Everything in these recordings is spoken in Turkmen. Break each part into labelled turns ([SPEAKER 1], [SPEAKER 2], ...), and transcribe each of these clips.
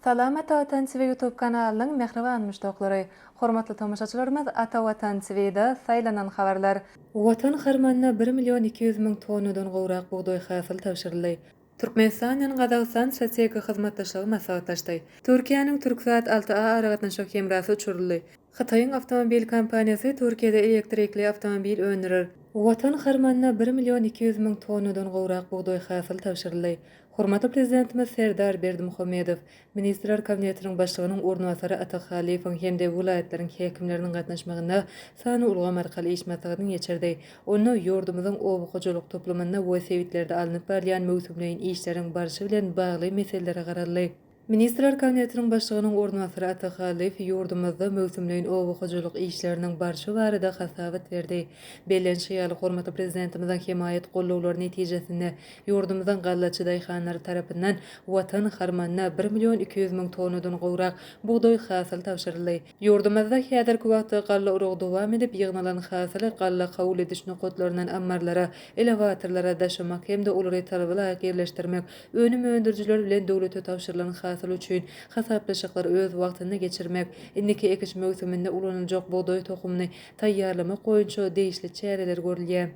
[SPEAKER 1] Salam Ata Watan TV YouTube kanalynyň mähriban muşdaklary! Hormatly tomaşaçylarymyz Ata Watan TVda saýlanan habarlar. Watan harmanyna bir million iki ýüz müň tonnadan gowrak bugdaý hasyl tabşyryldy. Türkmenistan bilen Gazagystan strategik hyzmatdaşlygy maslahatlaşdy. Türkiýäniň Türksat alty A aragatnaşyk hemrasy uçuryldy. Hytaýyň awtomobil kompaniýasy Türkiýede elektrikli awtomobil öndürer. Watan harmanyna bir million iki ýüz müň tonnadan gowrak bugdaý hasyl tabşyryldy. Hormatly Prezidentimiz Serdar Berdimuhamedow, Ministrler Kabinetiniň Başlygynyň orunbasary Atak Halyfowyň hem-de welaýatlaryň häkimleriniň gatnaşmagynda sanly ulgam arkaly iş maslahatyny geçirdi. Onda ýurdumyzyň oba hojalyk toplumynda we sebitlerde alnyp barylýan möwsümleýin işleriň barşy bilen bagly meselelere garaldy. Ministrler Kabinetiniň Başlygynyň orunbasary Atak Hallyýew ýurdumyzda möwsümleýin oba hojalyk işleriniň barşy barada hasabat berdi. Bellenişi ýaly, hormatly Prezidentimiziň hemaýat gollawlary netijesinde, ýurdumyzyň gallaçy daýhanlary tarapyndan Watan harmanyna bir million iki ýüz müň tonnadan gowrak bugdaý hasyl tabşyryldy. Ýurdumyzda häzirki wagtda galla uragy dowam edip, ýygnalan hasyly galla kabul ediş nokatlaryndan ammarlara, elewatorlara daşamak hem-de olary talaba laýyk ýerleşdirmek, önüm öndürijiler bilen döwlete tabşyrylan hasyl üçin hasaplaşyklary öz wagtynda geçirmek, indiki ekiş möwsüminde ulanyljak bugdaý tohumyny taýýarlamak boýunça degişli çäreler görülýär.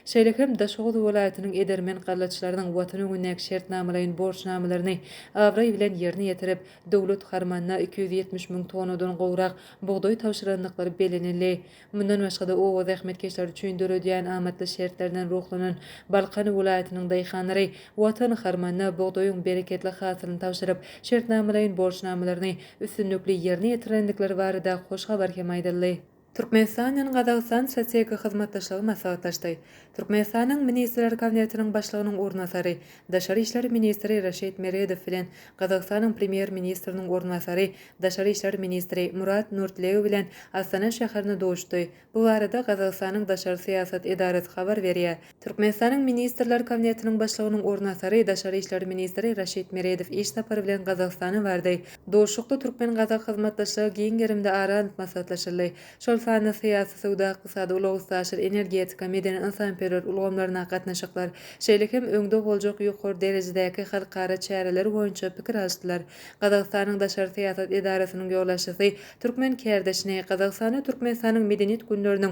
[SPEAKER 1] Şeýle hem Daşoguz welaýatynyň edermen gallaçylarynyň Watan öňündäki şertnamalaýyn borçnamalaryny abraý bilen ýerine ýetirip, Döwlet harmanyna iki ýüz ýetmiş müň tonnadan gowrak bugdaý tabşyrandyklary bellenildi. Mundan başga-da, oba zähmetkeşleri üçin döredýän amatly şertlerinden ruhlanan Balkan welaýatynyň daýhanlary Watan harmanyna bugdaýyň bereketli hasylyny tabşyryp, şertnamalaýyn borçnamalaryny üstünlikli ýerine ýetirendikleri barada hoş habar hem aýdyldy. Türkmenistanyň Gazagystan strategik hyzmatdaşlygy maslahatlaşdy. Türkmenistanyň Ministrler Kabinetiniň Başlygynyň orunbasary, daşary işler ministri Raşid Meredow bilen Gazagystanyň Premýer-ministriniň orunbasary, daşary işler ministri Murat Nurtleu bilen Astana şäherinde duşdy. Bu barada Gazagystanyň daşary syýasat edarasy habar berýär. Türkmenistanyň Ministrler Kabinetiniň Başlygynyň orunasary, daşary işler ministri Raşid Meredow iş sapary bilen Gazagystana bardy. Duşuşykda türkmen-gazak hyzmatdaşlygy giň gerimde ara alnyp maslahatlaşyldy. Şol sanda syýasy, söwda-ykdysady, ulag-üstaşyr, energetika, medeni-ynsanperwer ulgamlaryna gatnaşyklar, şeýle hem öňde boljak ýokary derejedäki halkara çäreleri boýunça pikir alyşdylar. Gazagystanyň daşary syýasat edarasynyň ýolbaşçysy türkmen kärdeşini Gazagystanda Türkmenistanyň Medeniýet günleriniň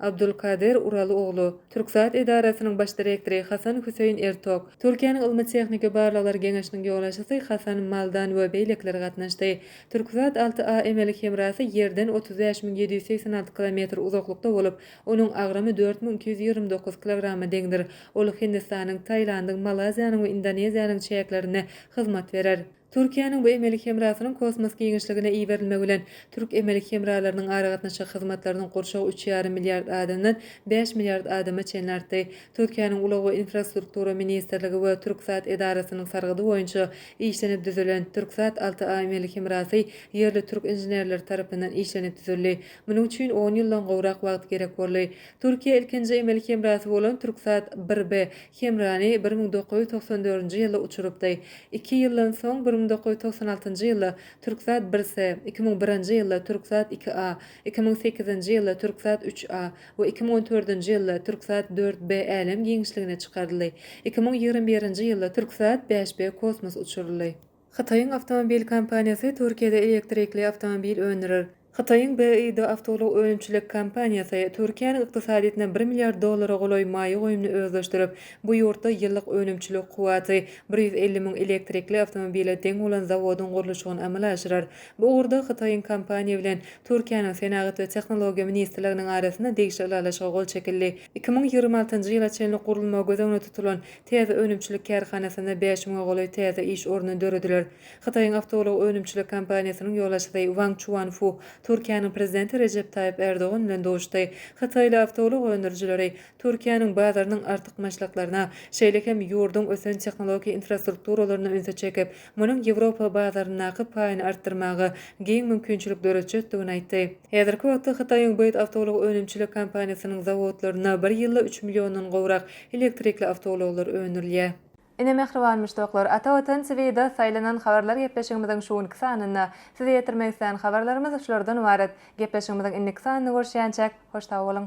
[SPEAKER 1] Abdulkadir Ural oglu, Türksat edarasynyň baş direktory Hasan Hüseýin Ertok, Türkiýäniň ylmy-tehniki barlaglar geňeşiniň ýolbaşçysy Hasan Maldan we beýlekiler gatnaşdy. Türksat alty A emeli hemrasy Ýerden otuz bäş müň ýedi ýüz segsen alty kilometr uzaklykda bolup, onuň agramy dört müň iki ýüz ýigrimi dokuz kilograma deňdir. Ol Hindistanyň, Tailandyň, Malaýziýanyň we Indoneziýanyň çäklerinde hyzmat berer. Türkiýäniň bu emeli hemrasynyň kosmos giňişligine iberilmegi bilen, türk emeli hemralarynyň aragatnaşyk hyzmatlarynyň gurşawy üç ýarym milliard adamdan bäş milliard adama çenli artdy. Türkiýäniň Ulag we infrastruktura ministrligi we Türksat edarasynyň sargydy boýunça işlenip düzülen Türksat alty A emeli hemrasy ýerli türk inženerleri tarapyndan işlenip düzüldi. Munuň üçin on ýyldan gowrak wagt gerek boldy. Türkiýä ilkinji emeli hemrasy bolan Türksat bir B Hemrany bir müň dokuz ýüz togsan dördünji ýylda uçurypdy. Iki ýyldan soň, bir müň dokuz ýüz togsan altynjy ýylda Türksat bir S, iki müň birinji ýylda Türksat iki A, iki müň sekizinji ýylda Türksat üç A we iki müň on dördünji ýylda Türksat dört B älem giňişligine çykaryldy. Iki müň ýigrimi birinji ýylda Türksat bäş B kosmos uçuryldy. Hytaýyň awtomobil kompaniýasy Türkiýede elektrikli awtomobil öndürer. Hytaýyň BYD awtoulag önümçilik kompaniýasy, Türkiýäniň ykdysadyýetine bir milliard dollara golaý maýa goýumyny özleşdirip, bu ýurtda ýyllyk önümçilik kuwwaty bir ýüz elli müň elektrikli awtomobile deň bolan zawodyň gurluşygyny amala aşyrar. Bu ugurda hytaýyň kompaniýa bilen Türkiýäniň Senagat we tehnologiýa ministrliginiň arasynda degişli ylalaşyga gol çekildi. Iki müň ýigrimi altynjy ýyla çenli gurulmagy göz öňünde tutulan Täze önümçilik kärhanasynda bäş müňe golaý täze iş orny dörediler. Hytaýyň awtoulag önümçilik kompaniýasynyň ýolbaşçysy Wang Çuanfu Türkiýäniň Prezidenti Rejep Taýyp Erdogan bilen duşdy. Hytaýly awtoulag öndürijileri Türkiýäniň bazarynyň artykmaçlyklaryna, şeýle hem ýurduň ösen tehnologiýa infrastrukturalaryna ünsi çekip, munuň Ýewropa bazaryndaky paýyny artdyrmaga giň mümkinçilik döretjekdigini aýtdy. Häzirki wagtda Hytaýyň BYD awtoulag önümçilik kompaniýasynyň zawodlarynda bir ýylda üç milliondan gowrak elektrikli awtoulaglar öndürilýär. Ine mähriban muşdaklar, Ata Watan TVda saýlanan habarlar gepleşigimiziň şu günki sanynda. Size ýetirmek islän habarlarymyz şulardan ybarat. Gepleşigimiziň indiki sanyny görüşýänçäk, hoş sag boluň!